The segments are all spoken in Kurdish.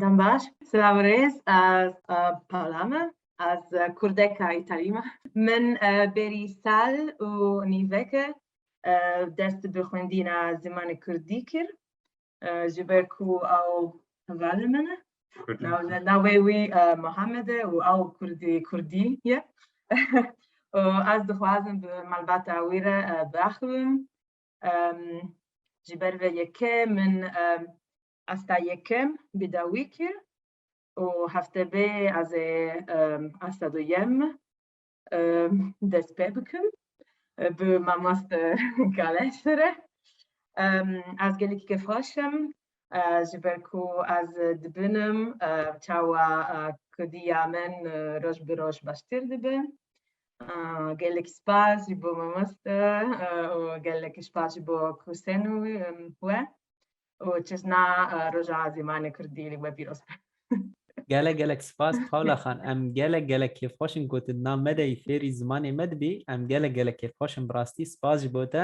Dem baş. Silav û rêz. Ez Paula me. Ez kurdeka îtalî me. Min bêrî sal û nîveke dest bi xwendîna zimanê kurdî kir ji ber ku ew hevalê min e. Navê wî Muhammed e û ew kurdê kurdî ye. Ez dixwazim bi malbata wî re biaxivim ji ber vê yekê min asta yekem bi dawî kir û heftebê ez ê asta duyem dest pê bikim bi mamoste Galeşi re. Ez gelekî kêfxweş im ji ber ku ez dibinim çawa kudiya min roj bi roj baştir dibe. gelek spas ji bo mamoste û gelek spas ji bo kursên wî we û çişna roja zîmanê kurdî li we pîroz be. Gelek gelek spas Pawla xan em gelek gelek kêfxweş in ku tu di nav me de yî fêrî zimanê me dibî em gelek gelek kêfxweş in bi rastî spas ji bo te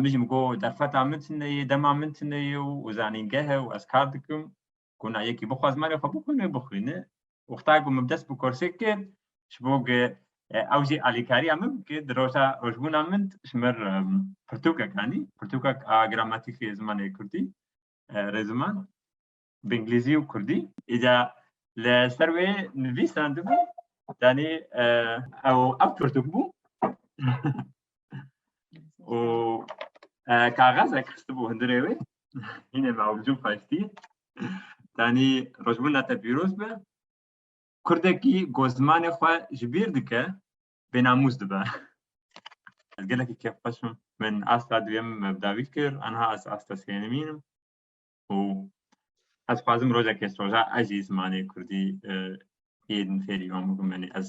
Min jî min got derfeta min tune ye, dema min tune ye û zanîngehe û ez kar dikim. Got na yekî bixwe zimanê xwe bixwîne bixwîne. Wexta ku min bi dest bi kursê kir ji bo ku ew jî alîkariya min bike di roja rojbûna min ji min re pirtûkek anî, pirtûkek a gramatîkê zimanê kurdî, rêziman. bi îngilîzî û kurdî. Îja li ser wê nivîsandibû danî ew ew pirtûk bû û kaxezek xistibû hundirê wê hînê me ew bijûm xweştî danî rojbûna te pîroz be kurdekî ku zimanê xwe ji bîr dike bênamûs dibe ez gelekî kêfxweş im min asta duyem bi dawî kir aniha ez asta sênimîn im û ez xwazim rojekê soja ez jî zimanê kurdî yên fêrî wan bibim yanî ez